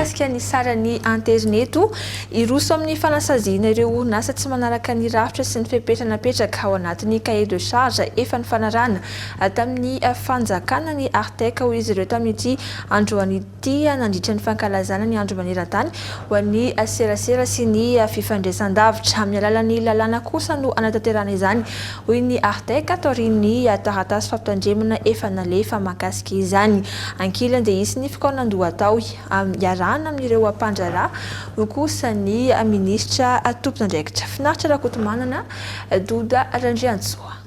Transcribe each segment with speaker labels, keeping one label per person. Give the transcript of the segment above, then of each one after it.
Speaker 1: Mikasika ny saran'ny Aterineto, hiroso amin'ny fanasaziana ireo orinasa tsy manaraka ny rafitra sy ny fepetra napetraka ao anatin'ny cahier de charge efa nifanarahana tamin'ny fanjakana ny Artec, hoy izy ireo tamin'ity androany ity. dia nandritra ny fankalazana ny Andro maneran-tany ho an'ny serasera sy ny fifandraisan-davitra. Amin'ny alalan'ny lalàna kosa no hanatanterahana izany, hoy ny Artec taorian'ny taratasy fampitandremana efa nalefa mahakasika izany. Ankilany dia hisy ny fikaonandoha atao iarahana amin'ireo mpandraharaha, hoy kosa ny minisitra tompon'andraikitra. Finaritra Rakotomanana, Doda Randriantsoa.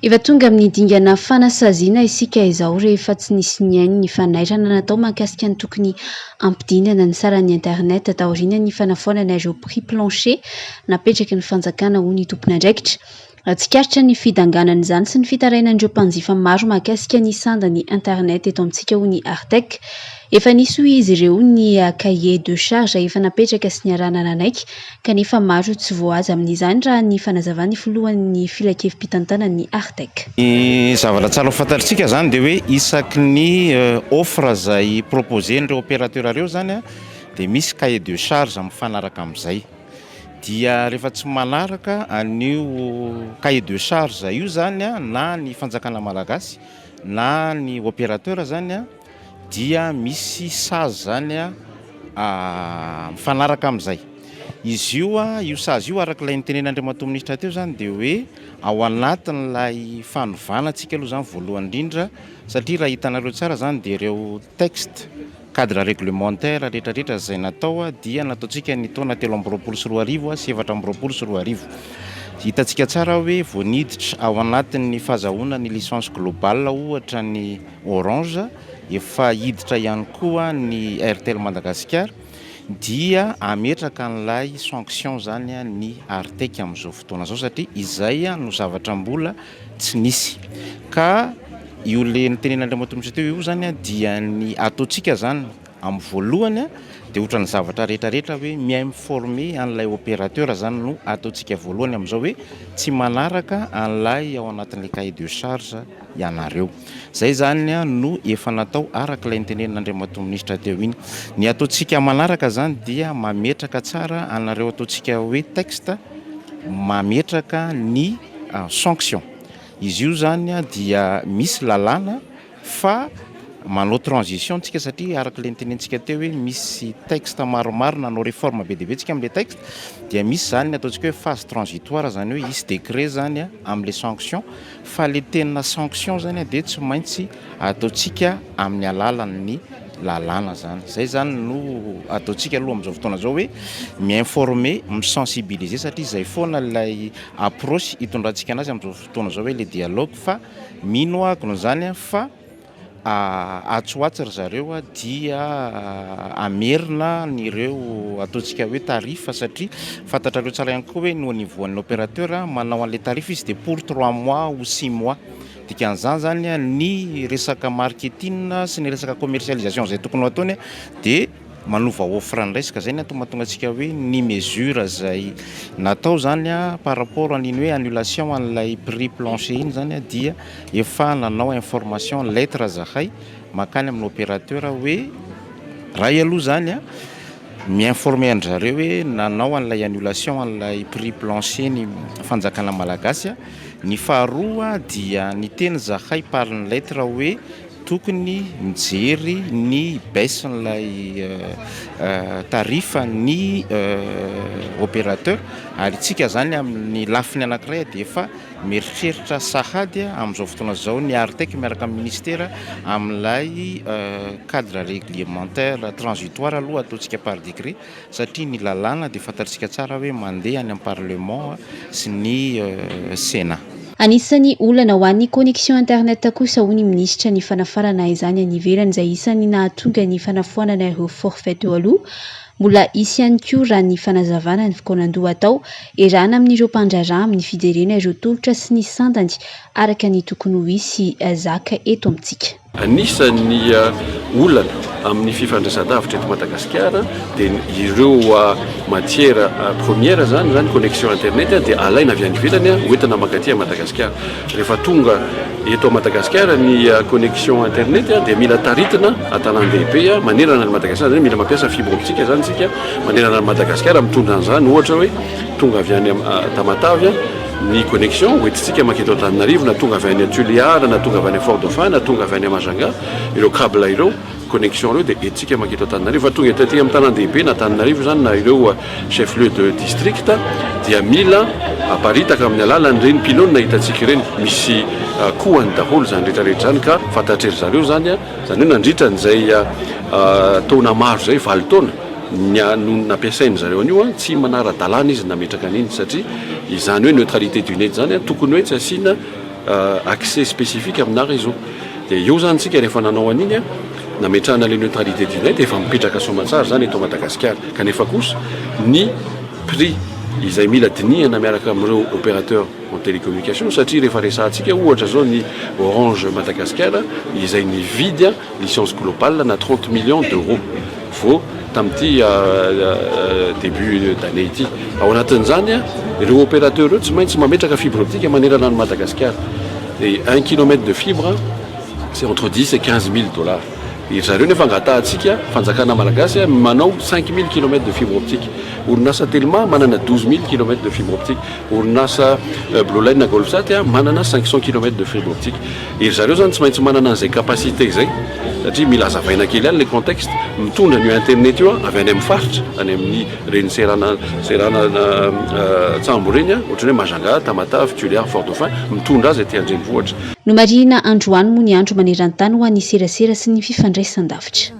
Speaker 2: Efa tonga amin'ny dingana fanasaziana isika izao rehefa tsy nisy nihaino ny fanairana natao mahakasika ny tokony hampidinana ny saran'ny internet taorianan'ny fanafoanana ireo prix plancher napetraky ny fanjakana hoy ny tompon'andraikitra tsikaritra ny fidanganan'izany sy ny fitarainan'ireo mpanjifa maro mahakasika ny sandan'ny internet eto amintsika hoy ny Artec Efa nisy hoy izy ireo ny cahier de charge efa napetraka sy niarahana nanaiky kanefa maro tsy voahaja amin'izany raha ny fanazavan'ny filohan'ny filankevi-pitantanan'ny Artec. Ny zavatra
Speaker 3: tsara ho fantatritsika izany dia hoe isaky ny offre izay proposer-n'ireo opérateur ireo izany dia misy cahier de charge mifanaraka amin'izay. Dia rehefa tsy manaraka an'io cahier de charge io izany na ny fanjakana malagasy na ny opérateur izany, dia misy sazy zany a mifanaraka amin'izay. Izy io a, io sazy io araka ilay nitenen'Andriamatoa Minisitra teo zany dia hoe ao anatin'ilay fanovana antsika aloha zany voalohany indrindra satria raha hitanareo tsara zany dia ireo texte cadre réglementaire rehetrarehetra izay natao dia nataontsika ny taona telo amby roapolo sy roa arivo sy efatra amby roapolo sy roa arivo. Hitantsika tsara hoe vao niditra ao anatin'ny fahazahoana ny licence globale ohatra ny Orange, efa hiditra ihany koa ny Airtel Madagasikara dia hametraka an'ilay sanction izany ny Artec amin'izao fotoana izao satria izay no zavatra mbola tsy nisy. Ka io le notenenin'Andriamatoa Minisitra teo io izany dia ny ataontsika izany, Amin'ny voalohany dia ohatran'ny zavatra rehetra rehetra hoe mi-informe an'ilay opérateur zany no ataontsika voalohany amin'izao hoe tsy manaraka an'ilay ao anatin'ilay cahier de charge ianareo. Izay zany no efa natao araka ilay nitenenin'Andriamatoa Minisitra teo iny. Ny ataontsika manaraka izany dia mametraka tsara anareo ataontsika hoe texte mametraka ny sanctions. Izy io zany dia misy lalàna. fa manao transition tsika satria araka ilay nitenentsika teo hoe misy texte maromaro na hanao réforme be dia be tsika amin'ilay texte dia misy izany ny ataontsika hoe phase transitoire izany hoe hisy décret izany a amin'ilay sanction fa ilay tena sanction izany a dia tsy maintsy ataontsika amin'ny alalan'ny lalàna izany, izay izany no ataontsika aloha amin'izao fotoana izao hoe mi-informer, mi-sensibiliser satria izay foana ilay approche hitondrantsika an'azy amin'izao fotoana. fotoana izao hoe le dialogue fa mino aho akona zany a fa atsy ho atsy ry zareo a dia amerina an'ireo ataontsika hoe tarif satria fantatrareo tsara ihany koa hoe ny au niveau an'ny opérateur a manao an'le tarif izy dia pour trois mois ou six mois dikan'izany zany a ny resaka marketing sy ny resaka commercialisation izay tokony ho ataony a dia manova offre ndray ska zay ny antony mahatonga antsika hoe ny mesure zay natao zany a par rapport an'iny hoe annulation an'ilay prix plancher iny zany a dia efa nanao information lettre zahay makany amin'ny opérateur hoe ray aloha zany a mi-informer an-drzareo hoe nanao an'ilay annulation an'ilay prix plancher ny fanjakana malagasy a ny faharoa dia niteny zahay par lettre hoe Tokony mijery ny baisse n'ilay tarif ny opérateur ary isika izany amin'ny lafiny anankiray dia efa mieritreritra sahady amin'izao fotoana izao ny ARTEC miaraka amin'ny ministera amin'ilay cadre réglementaire transitoire aloha ataontsika par décret. satria ny lalàna dia fantatsika tsara hoe mandeha any amin'ny parlement sy ny Sénat. Anisan'ny
Speaker 2: olana ho an'ny connexion internet kosa hoy ny minisitra ny fanafarana izany any ivelany izay isan'ny nahatonga ny fanafoanana ireo forfait teo aloha. Mbola hisy ihany koa raha ny fanazavana ny fikaonandoha atao erahana amin'ireo mpandraharaha amin'ny fijerena ireo tolotra sy ny sandany araka ny tokony ho hisy zaka eto amintsika. Anisan'ny
Speaker 4: olana amin'ny fifandraisan-davitra eto Madagasikara dia ny ireo matière première zany zany connexion internet dia alaina avy any ivelany ho entina maka aty Madagasikara. Rehefa tonga eto Madagasikara ny connexion internet dia mila taritina an-tanàn-dehibe manerana an'i Madagasikara zany hoe mila mampiasa fibre optique zany isika manerana an'i Madagasikara mitondra an'izany ohatra hoe tonga avy any Tamatave Ny connexion hoentintsika makety Antananarivo na tonga avy any Tuléar na tonga avy any Fort Dauphin na tonga avy any Majanga, ireo cable ireo, connexion ireo dia entintsika makety Antananarivo. Fa tonga eto aty amin'ny tanàn-dehibe na Antananarivo izany na ireo chef lieu de district dia mila aparitaka amin'ny alalan'ireny pylone hitantsika ireny. Misy kohany daholo izany rehetra rehetra izany ka fantatry ry zareo izany, izany hoe nandritra an'izay taona maro izay, valo taona. ny anony nampiasain-dry zareo an'io an, tsy manara-dalàna izy ny nametraka an'iny satria izany hoe neutralité du net izany an, tokony hoe tsy asiana accès spécifique aminà réseau. Dia eo izany isika rehefa nanao an'iny an, nametrahana ilay neutralité du net, efa mipetraka soamantsara izany eto Madagasikara. Kanefa kosa ny prix izay mila dinihana miaraka amin'ireo opérateurs en télécommunication satria rehefa resahantsika ohatra izao ny Orange Madagasikara izay nividy an, Licence globale na trente millions d'euros vao tamin'ity début d'année ity. Ao anatin'izany, ireo opérateurs ireo tsy maintsy mametraka fibre optique manerana an'i Madagasikara. Dia un kilomètre de fibre, c'est entre dix et quinze mille dollars. Dia ry zareo nefa angatahantsika, fanjakana malagasy, manao cinq mille kilomètres de fibre optique. Orinasa Telma manana douze mille kilomètres de fibre optique. Orinasa Blue Line Golfsat manana cinq cent kilomètres de fibre optique. Iry zareo zany tsy maintsy manana an'izay capacité zay satria mila azavaina kely ihany ilay contexte. Mitondra an'io internet io avy any amin'ny faritra, any amin'ny reny serana seranantsambo ireny, ohatran'ny hoe Majanga, Tamatave, Tuléar, Fort Dauphin, mitondra azy aty an-drenivohitra.
Speaker 2: Nomarihina androany moa ny Andro maneran-tany
Speaker 4: ho
Speaker 2: an'ny serasera sy ny fifandraisan-davitra.